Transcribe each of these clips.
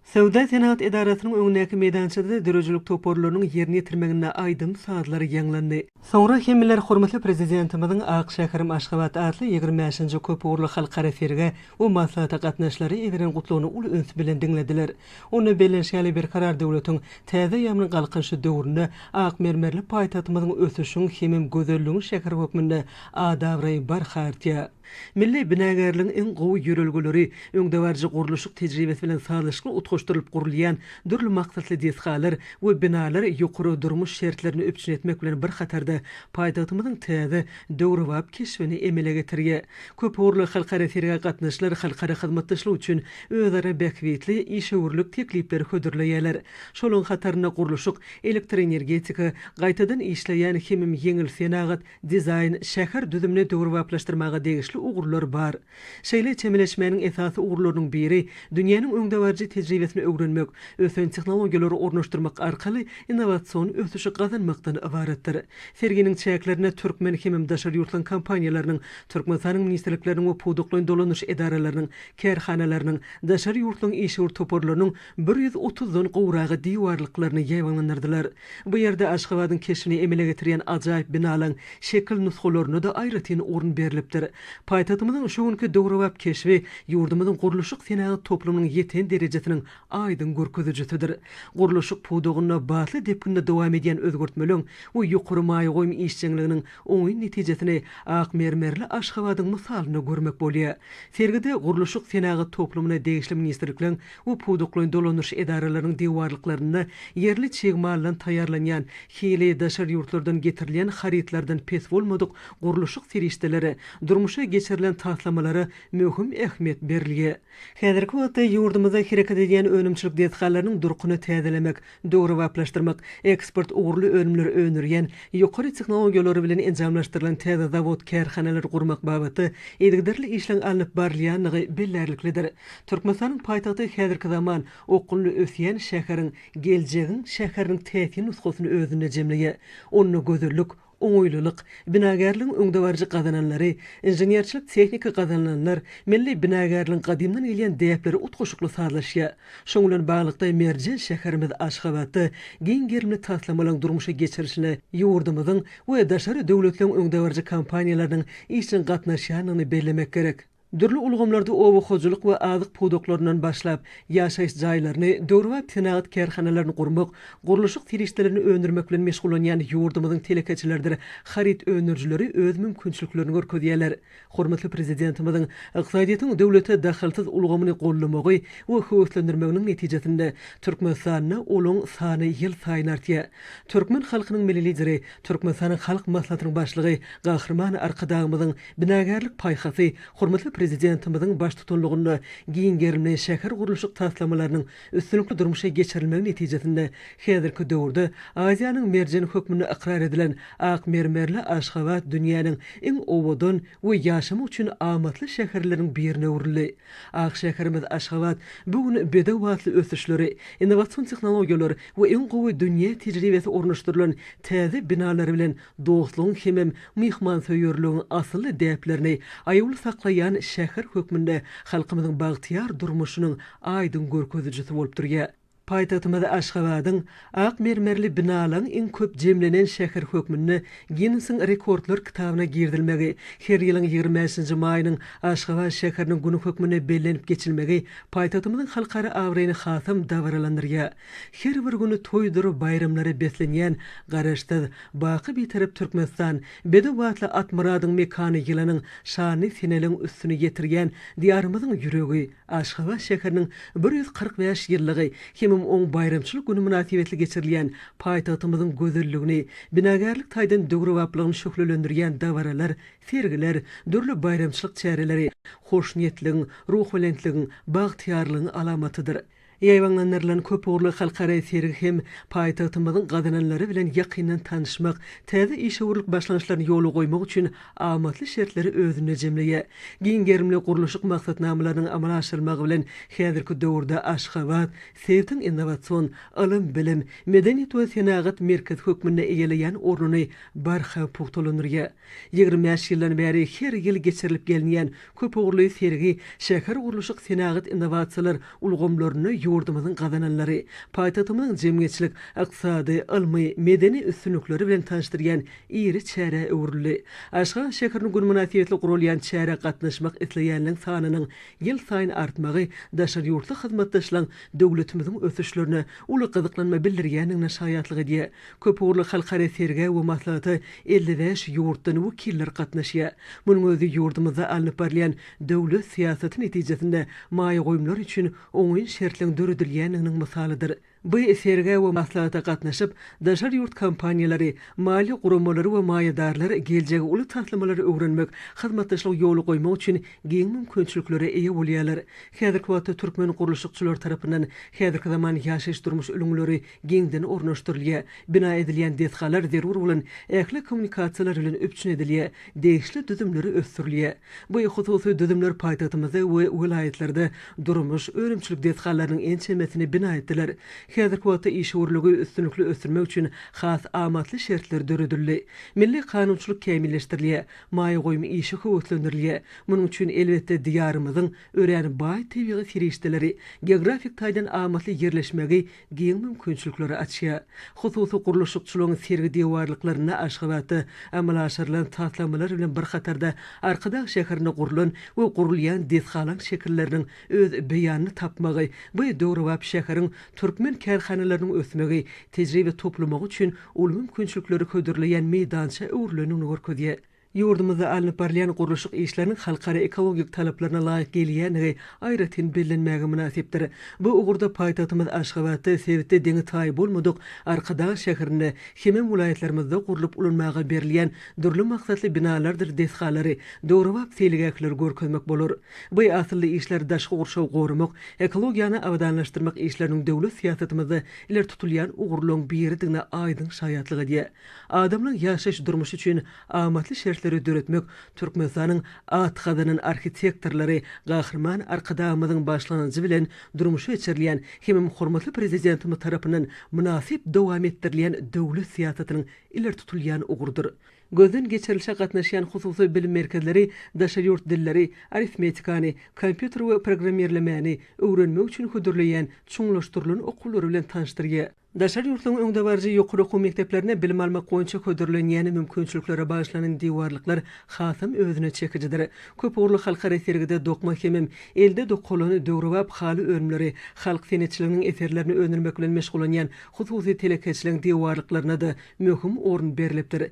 Söwda-senagat edarasynyň öňündäki meýdançada döredijilik toparlarynyň ýerine ýetirmeginde aýdym-sazlar ýaňlandy. Soňra hemmeler hormatly Prezidentimiziň Ak şäherim Aşgabat atly ýigrimi bäşinji köpugurly halkara sergä we maslahata gatnaşyjylara ýetiren gutlagyny uly üns bilen diňlediler. Onda bellenşi ýaly, Berkarar döwletiň täze eýýamynyň Galkynyşy döwründe ak mermerli paýtagtymyzyň ösüşiň hemem gözelligiň şäheri hökmünde at-abraýy barha artýar. Milli binagärligiň iň gowy ýörelgeleri, öňdebaryjy gurluşyk tejribesi bilen sazlaşykly utgaşdyrylyp gurulýan dürli maksatly desgalar we binalar ýokary durmuş şertlerini üpjün etmek bilen bir hatarda paýtagtymyzyň täze, döwrebap keşbini emele getirýär. Köpugurly halkara sergä gatnaşyjylar halkara hyzmatdaşlyk üçin özara bähbitli işewürlik teklipleri hödürleýärler. Şolaryň hatarynda gurluşyk, elektroenergetika, gaýtadan işleýän hemem ýeňil senagat, Dizaýn, şäher düzümini döwrebaplaşdyrmaga degişli ugurlar bar. Şeýle çemeleşmäniň esasy ugurlarynyň biri, dünýäniň öňdebaryjy tejribesini öwrenmek, ösen tehnologiýalary ornaşdyrmak arkaly innowasion ösüşi gazanmakdan ybaratdyr. Serginiň çäklerinde türkmen hemem daşary ýurtlaryň kompaniýalarynyň, Türkmenistanyň ministrlikleriniň we pudaklaýyn dolanyş edaralarynyň, kärhanalarynyň, daşary ýurtlaryň işewür toparlarynyň bir ýüz otuzdan gowragy diwarlyklaryny ýaýbaňlandyrdylar. Bu ýerde Aşgabadyň keşbini emele getirýän ajaýyp binalaň şekil nusgalaryna-da aýratyn orun berlipdir. Paýtagtymyzyň şu günki döwrebap keşbi ýurdumyzyň gurluşyk-senagat toplumynyň ýeten derejesiniň aýdyň görkezijisidir. Gurluşyk pudagynda batly depginde dowam edýän özgertmeleň we ýokary maýa goýum işjeňliginiň oňyn netijesini ak mermerli Aşgabadyň mysalynda görmek bolýar. Sergide gurluşyk-senagat toplumyna degişli ministrlikleň we pudaklaýyn dolanyş edaralarynyň diwarlyklarynda ýerli çig maldan taýýarlanýan, hili daşary ýurtlardan getirilýän harytlardan pes bolmadyk gurluşyk serişdeleri, durmuşa geçirilen taslamalara möhüm ähmiýet berilýär. Häzirki wagtda ýurdumyzda hereket edýän önümçilik desgalarynyň durkuny täzelemek, döwrebaplaşdyrmak, eksport ugurly önümleri öndürýän, ýokary tehnologiýalary bilen enjamlaşdyrylan täze zawod-kärhanalary gurmak babatda yzygiderli işleň alnyp barylýandygy bellärliklidir. Türkmenistanyň paýtagty häzirki zaman okgunly ösýän şäheriň, geljegiň şäheriniň täsin nusgasyny özünde jemleýär. Onda gözellik, oňaýlylyk, binagärligiň öňdebaryjy gazananlary, inženerçilik-tehniki gazanylanlar, milli binagärligiň gadymdan gelýän däpleri utgaşykly sazlaşýar. Şonuň bilen baglylykda, merjen şäherimiz Aşgabatda giň gerimli taslamalaryň durmuşa geçirilişine ýurdumyzyň we daşary döwletleriň öňdebaryjy kompaniýalarynyň işjeň gatnaşýandygyny bellemek gerek. Dürli ulgamlarda oba hojalyk we azyk pudaklaryndan başlap, ýaşaýyş jaýlaryny, döwrebap senagat kärhanalaryny gurmak, gurluşyk serişdelerini öndürmek bilen meşgullanýan ýurdumyzyň telekeçileridir haryt öndürijileri öz mümkinçiliklerini görkezýärler. Hormatly Prezidentimiziň ykdysadyýetiň döwlete dahylsyz ulgamyny goldamagy we höweslendirmeginiň netijesinde, Türkmenistanda olaň sany ýylsaýyn artýar. Türkmen halkynyň Milli Lideri, Türkmenistanyň Halk Maslahatynyň Başlygy Gahryman Arkadagymyzyň Binagärlik paýhasy hormatly Prezidentimiziň baştutanlygynda giň gerimli şähergurluşyk taslamalarynyň üstünlikli durmuşa geçirilmegi netijesinde häzirki döwürde Aziýanyň merjeni hökmünde ykrar edilen ak mermerli Aşgabat dünýäniň iň owadan we ýaşamak üçin amatly şäherleriň birine öwrüldi. Ak şäherimiz Aşgabat bu gün bedew atly ösüşleri, innowasion tehnologiýalar we iň gowy dünýä tejribesi ornaşdyrylan täze binalary bilen dostlugyň hemem myhmansöýerligiň asylly däplerini aýawly saklaýan şäher hökmünde halkymyzyň bagtyýar durmuşynyň aýdyň görkezijisi bolup durýar. Paýtagtymyz Aşgabadyň ak mermerli binalaryň iň köp jemlenen şäher hökmünde Ginnesiň rekordlar kitabyna girizilmegi, her ýylyň ýigrimi bäşinji maýynyň Aşgabat şäheriniň güni hökmünde bellenip geçilmegi paýtagtymyzyň halkara abraýyny hasam dabaralandyrýar. Her bir güni toýdur baýramlara beslenýän Garaşsyz, baky Bitarap Türkmenistan, bedew batly Atmyradyň mekany ýylanyň şanyny seneliň üstüni ýetirýän Diýarymyzyň ýüregi, Aşgabat şäheriniň bir ýüz kyrk bäş ýyllygy hemem oň baýramçylyk güni mynasybetli geçirilýän paýtagtymyzyň gözelligini, binagärlik taýdan döwrebaplygyny şöhlelendirýän dabaralar, sergiler, dürli baýramçylyk çäreleri hoşniýetligiň, ruhubelentligiň, bagtyýarlygyň alamatydyr. Ýaýbaňlandyrylan köpugurly halkara sergi hem paýtagtymyzyň gazananlary bilen ýakyndan tanyşmak, täze işewürlik başlangyçlaryny ýola goýmak üçin amatly şertleri özünde jemleýär. Giň gerimli gurluşyk maksatnamalarynyň amala aşyrylmagy bilen häzirki döwürde Aşgabat sebitiň innowasion, ylym-bilim, medeniýet we senagat merkezi hökmünde eýeleýän ornuny barha pugtalandyrýar. Ýigrimi bäş ýyldan bäri her ýyl geçirilip gelinýän köpugurly sergi şähergurluşyk-senagat innowasiýalar ulgamlarynda ýurdumyzyň gazananlary, paýtagtymyzyň jemgyýetçilik, ykdysady, ylmy, medeni üstünlikleri bilen tanyşdyrýan iri çärä öwrüldi. Aşgabat şäheriniň güni mynasybetli guralýan çärä gatnaşmak isleýänleriň sanynyň ýylsaýyn artmagy daşary ýurtly hyzmatdaşlaryň döwletimiziň ösüşlerine uly gyzyklanma bildirýändigine şaýatlyk edýär. Köpugurly halkara sergä we maslahata elli bäş ýurtdan wekiller gatnaşýar. Munuň özi ýurdumyzda alnyp barylýan döwlet syýasaty netijesinde maýa goýumlar üçin oňyn şertleň döredilýändiginiň mysalydyr. Bu sergä we maslahata gatnaşyp, daşary ýurt kompaniýalary, maliýe guramalary we maýadarlar geljegi uly taslamalary öwrenmek, hyzmatdaşlyk ýola goýmak üçin giň mümkinçiliklere eýe bolýarlar. Häzirki wagtda türkmen gurluşykçylary tarapyndan häzirki zaman ýaşaýyş-durmuş ülňüleri geňden ornaşdyrylýar, bina edilýän desgalar zerur bolan ähli kommunikasiýalar bilen üpjün edilýär, degişli düzümleri ösdürilýär. Bu hususy düzümler paýtagtymyzda we welaýatlarda durmuş, önümçilik desgalarynyň ençemesini bina etdiler. Häzirki wagtda işewürligi üstünlikli ösdürmek üçin has amatly şertler döredildi. Milli kanunçylyk kämilleşdirilýär, maýa goýum işi höweslendirilýär. Munuň üçin, elbetde, Diýarymyzyň örän baý tebigy serişdeleri, geografik taýdan amatly ýerleşmegi giň mümkinçilikleri açýar. Hususy gurluşykçylygyň sergi diwarlyklarynda Aşgabatda amala aşyrylan taslamalar bilen bir hatarda Arkadag şäherinde gurlan we gurulýan desgalaň şekilleriniň öz beýanyny tapmagy bu döwrebap şäheriň türkmen kärhanalarynyň ösmegi, tejribe toplamagy üçin uly mümkinçilikleri hödürleýän meýdança öwrülendigini görkezýär. Ýurdumyzda alnyp barylýan gurluşyk işleriniň halkara ekologik talaplaryna laýyk gelýändigi aýratyn bellenmäge mynasypdyr. Bu ugurda paýtagtymyz Aşgabatda sebitde deňi-taýy bolmadyk Arkadag şäherinde hemem welaýatlarymyzda gurlup ulanmaga berilýän dürli maksatly binalardyr desgalary, döwrebap seýilgähleri görkezmek bolar. Bu asylly işler daşky gurşawy goramak, ekologiýany abadanlaşdyrmak işleriniň döwlet syýasatymyzda ileri tutulýan ugurlaryň biridigine aýdyň şaýatlyk edýär. Adamlaň ýaşaýyş-durmuşy üçin amatly şertleri döretmek Türkmenistanyň at gazanan arhitektorlary Gahryman Arkadagymyzyň başlangyjy bilen durmuşa geçirilýän hemem hormatly Prezidentimiz tarapyndan mynasyp dowam etdirilýän döwlet syýasatynyň ileri tutulýan ugrudyr. Gözden geçirilişe gatnaşýan hususy bilim merkezleri daşary ýurt dilleri, arifmetikany, kompýuter we programmirlemäni öwrenmek üçin hödürleýän çuňlaşdyrylan okuwlary bilen tanyşdyrýar. Daşary ýurtlaryň öňdebaryjy ýokary okuw mekdeplerinde bilim almak boýunça hödürlenýän mümkinçiliklere bagyşlanan diwarlyklar hasam özüne çekijidir. Köp ugurly halkara sergide dokma hemem elde dokalan döwrebap haly önümleri, halk senetçiliginiň eserlerini öndürmek bilen meşgullanýan hususy telekeçiligiň diwarlyklaryna-da möhüm orun berlipdir.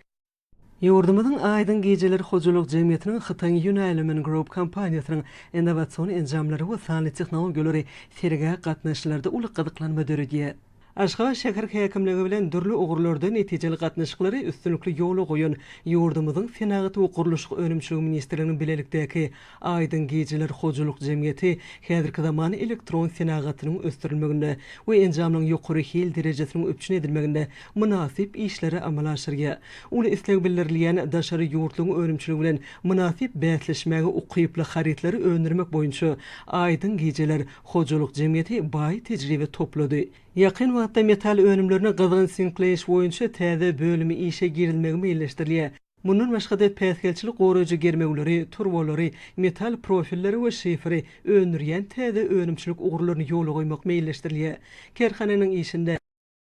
Ýurdumyzyň Aýdyň gijeler hojalyk jemgyýetiniň Hytaýyň Yunailumen Group kompaniýasynyň innowasion enjamlary we sanly tehnologiýalary sergä gatnaşyjylarda uly gyzyklanma döredýär. Aşgabat şäher häkimligi bilen dürli ugurlarda netijeli gatnaşyklary üstünlikli ýola goýan ýurdumyzyň Senagat we gurluşyk önümçiligi ministrliginiň bilelikdäki Aýdyň gijeler hojalyk jemgyýeti häzirki zaman elektron senagatynyň ösdürilmeginde we enjamlaryň ýokary hil derejesiniň üpjün edilmeginde mynasyp işleri amala aşyrýar. Uly isleg bildirilýän daşary ýurtlaryň önümçiligi bilen mynasyp bäsleşmäge ukyply harytlary öndürmek boýunça Aýdyň gijeler hojalyk jemgyýeti baý tejribe toplady. Ýakyn wagtda metal önümlerini gyzgyn sinkleýiş boýunça täze bölümi işe girizilmegi meýilleşdirilýär. Mundan başga-da päsgelçilik goraýjy germewleri, turbalary, metal profilleri we şiferi öndürýän täze önümçilik ugurlaryny ýola goýmak meýilleşdirilýär. Kärhananyň işinde.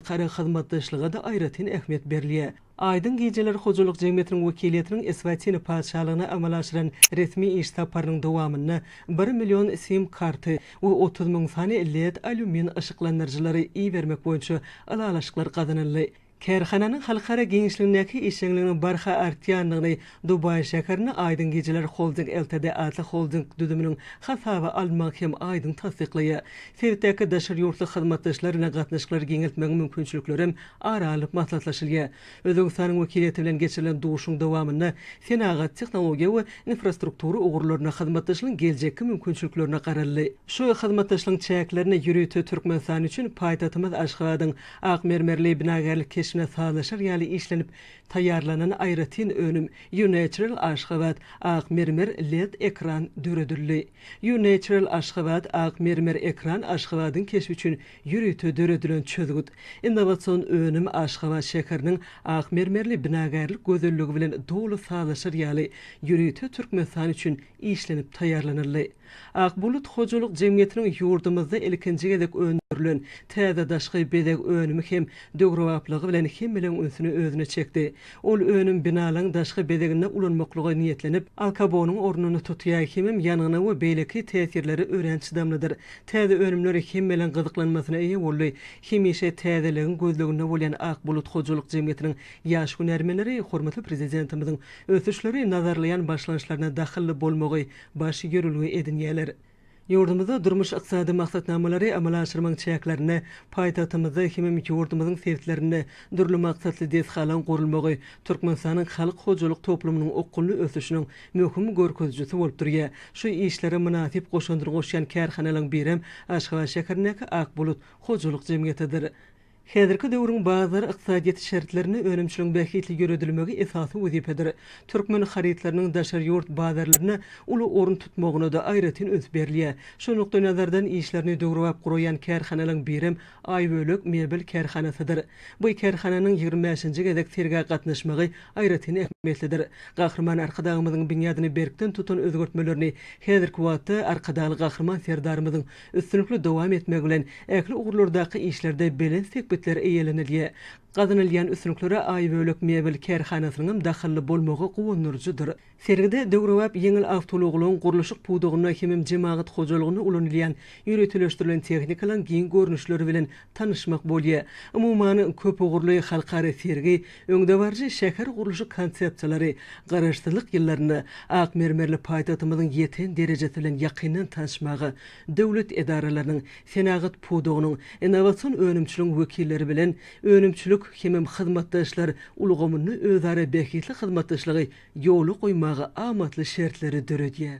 Halkara hyzmatdaşlyga-da aýratyn ähmiýet berilýär. Aýdyň gijeler hojalyk jemgyýetiniň wekiliýetiniň Eswatini Patyşalygyna amala aşyran resmi iş saparynyň dowamynda bir million sim karty we otuz müň sany led alýumin yşyklandyryjylary ibermek boýunça ylalaşyklar gazanyldy. Kärhananyň halkara giňişligindäki işjeňliginiň barha artýandygyny Dubaý şäherinde Aýdyň gijeler Holding Ltd atly holding düzüminiň hasaba alynmagy hem aýdyň tassyklaýar. Sebitdäki daşary ýurtly hyzmatdaşlar bilen gatnaşyklary giňeltmegiň mümkinçiliklerem ara alnyp maslahatlaşylýar. Özbegistanyň wekiliýeti bilen geçirilen duşuň dowamynda senagat, tehnologiýa we infrastruktura ugurlarynda hyzmatdaşlygyň geljekki mümkinçiliklerine garaldy. Şu hyzmatdaşlygyň çäklerinde ýörite Türkmenistan üçin paýtagtymyz Aşgabadyň Ak mermerli binagärlik keşbine sazlaşar ýaly işlenip taýýarlanan aýratyn önüm, U-Natural Aşgabat, Ak mermer led ekran, döredildi. U-Natural Aşgabat, Ak mermer ekran Aşgabadyň keşbi üçin ýörite döredilen çözgüt. Innowasion önüm Aşgabat şäheriniň ak mermerli binagärlik gözelligi bilen doly sazlaşar ýaly, ýörite Türkmenistan üçin işlenip taýýarlanyldy. Ak bulut hojalyk jemgyýetiniň ýurdumyzda ilkinji gezek öndürilen täze daşky bezeg önümi hem döwrebaplygy bilen hemmeleriň ünsüni özüne çekdi. Ol önüm binalaryň daşky bezeginde ulanmaklyga niýetlenip, alkabonyň ornuny tutýar hemem ýangyna we beýleki täsirlere örän çydamlydyr. Täze önümler hemmeleriň gyzyklanmasyna eýe boldy. Hemişe täzeligiň gözleginde bolýan Ak bulut hojalyk jemgyýetiniň ýaş hünärmenleri hormatly Prezidentimiziň ösüşleri nazarlaýan başlangyçlaryna dahylly bolmagy baş ýörelge edinýärler. Ýurdumyzda durmuş-ykdysady maksatnamalary amala aşyrmagyň çäklerinde paýtagtymyzda hemem ýurdumyzyň sebitlerinde dürli maksatly desgalaryň gurulmagy Türkmenistanyň halk hojalyk toplumynyň okgunly ösüşiniň möhüm görkezijisi bolup durýar. Şu işlere mynasyp goşandyny goşýan kärhanalaryň birem Aşgabat şäherindäki Akbulut hojalyk jemgyýetidir. Häzirki döwrüň bazar ykdysadyýeti şertlerinde önümçiligiň bähbitli ýöredilmegi esasy wezipedir. Türkmen harytlarynyň daşary ýurt bazarlarynda uly orun tutmagyna-da aýratyn üns berilýär. Şu nukdaýnazardan işlerini döwrebap guraýan kärhanalaryň birem Aýbölek mebel kärhanasydyr. Bu kärhananyň ýigrimi bäşinji gezek sergä gatnaşmagy aýratyn ähmiýetlidir. Gahryman Arkadagymyzyň binýadyny berkden tutan özgertmelerini häzirki wagtda Arkadagly Gahryman Serdarymyzyň üstünlikli dowam etmegi bilen, ähli ugurlardaky işlerde belent sepgitler eýelenilýär. Gazanylýan üstünliklere Aýbölek mebel kärhanasynyňam dahylly bolmagy guwandyryjydyr. Sergide döwrebap ýeňil awtoulaglaryň gurluşyk pudagynda hemem jemagat hojalygynda ulanylýan ýöriteleşdirilen tehnikalaryň giň görnüşleri bilen tanyşmak bolýar. Umuman, köpugurly halkara sergi öňdebaryjy şäher gurluşyk konsepsiýalary, Garaşsyzlyk ýyllarynda ak mermerli paýtagtymyzyň ýeten derejesi bilen ýakyndan tanyşmaga, döwlet edaralarynyň, senagat pudagynyň, innowasion önümçiligiň wekilleri bilen önümçilik hemem hyzmatdaşlar ulgamynda özara bähbitli hyzmatdaşlygy ýola goýmaga amatly şertleri döredýär.